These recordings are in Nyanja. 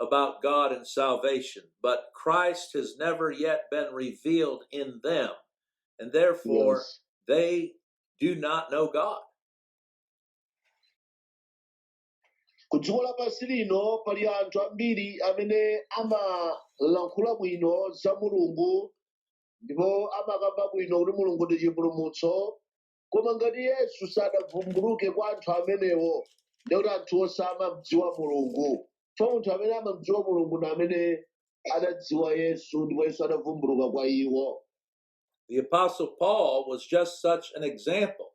about God and salvation, but Christ has never yet been revealed in them, and therefore Yes. they do not know God. ku dziko lapansi lino pali anthu ambiri amene amalankhula bwino za mulungu ndipo amakamba bwino kuti mulungu ndi chipulumutso Koma ngati Yesu sadavumbuluke kwa anthu amenewo, ndiye kuti anthuwo samamdziwa Mulungu. Chifukwa munthu amene amamdziwa Mulungu ndi amene adadziwa Yesu, ndipo Yesu adavumbuluka kwa iwo. The Apostle Paul was just such an example.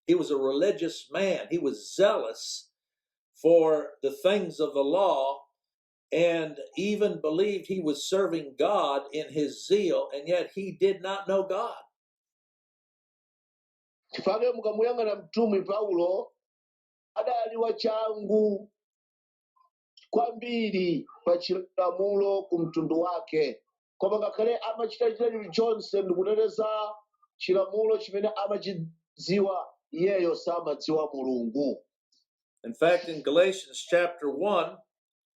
He was a religious man, he was zealous for the things of the law, and even believed he was serving God in his zeal, and yet he did not know God. chifukwa mukamuyang'ana mtumwi paulo adali wachangu kwambiri pa chilamulo ku mtundu wake koma ngakhale amachita chita chilichonse ndikuteteza chilamulo chimene amachidziwa iyeyo samadziwa mulungu In fact, in Galatians chapter 1,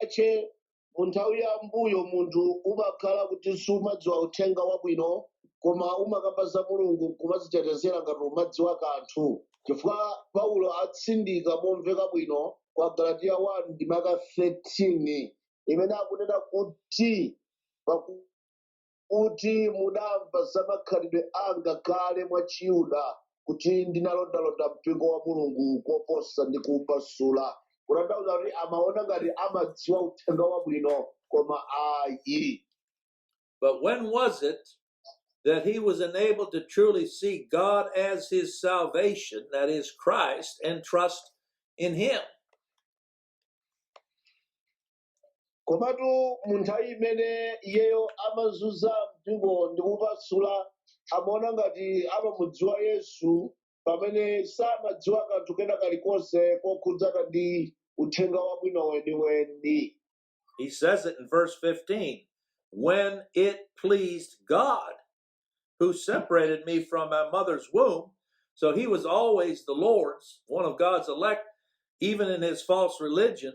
chache mu nthawi ya mbuyo munthu umakhala kuti sumadziwa uthenga wabwino koma umakamba za mulungu nkumazitetezera ngati umadziwa kanthu chifukwa paulo atsindika momveka bwino kwa galatiya 1 ndime ya 13 imene akunena kuti paku kuti mudamva za makhalidwe anga kale mwa Chiyuda, kuti ndinalondalonda mpingo wa Mulungu koposa ndi kuupasula. Kutanthauza kuti amaona ngati amadziwa uthenga wabwino koma ayi. But when was it that he was enabled to truly see God as his salvation, that is Christ, and trust in him? komatu mu nthawi imene iyeyo amazunza mpingo ndi kuupasula amaona ngati amamudziwa yesu pamene samadziwa kanthu kena kalikonse kokhudzana ndi uthenga wabwino weniweni He says it in verse 15 when it pleased God who separated me from my mother's womb. So he was always the Lord's, one of God's elect, even in his false religion,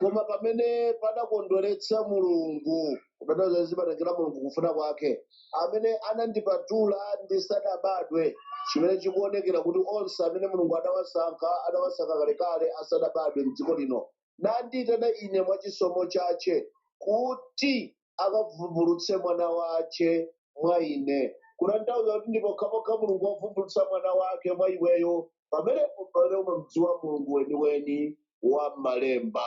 koma pamene padakondweretsa mulungu kutanthauza zimatengera mulungu kufuna kwake amene anandipatula ndisadabadwe chimene chikuonekera kuti onse amene mulungu adawasankha adawasankha kalekale asadabadwe m'dziko lino nandiitana ine mwa chisomo chache kuti akavumbulutse mwana wace mwa ine kutanthauza kuti ndi pokhapokha mulungu wavumbulutsa mwana wake mwa iweyo pamenepo pamene umamdziwa mulungu weniweni wa m'malemba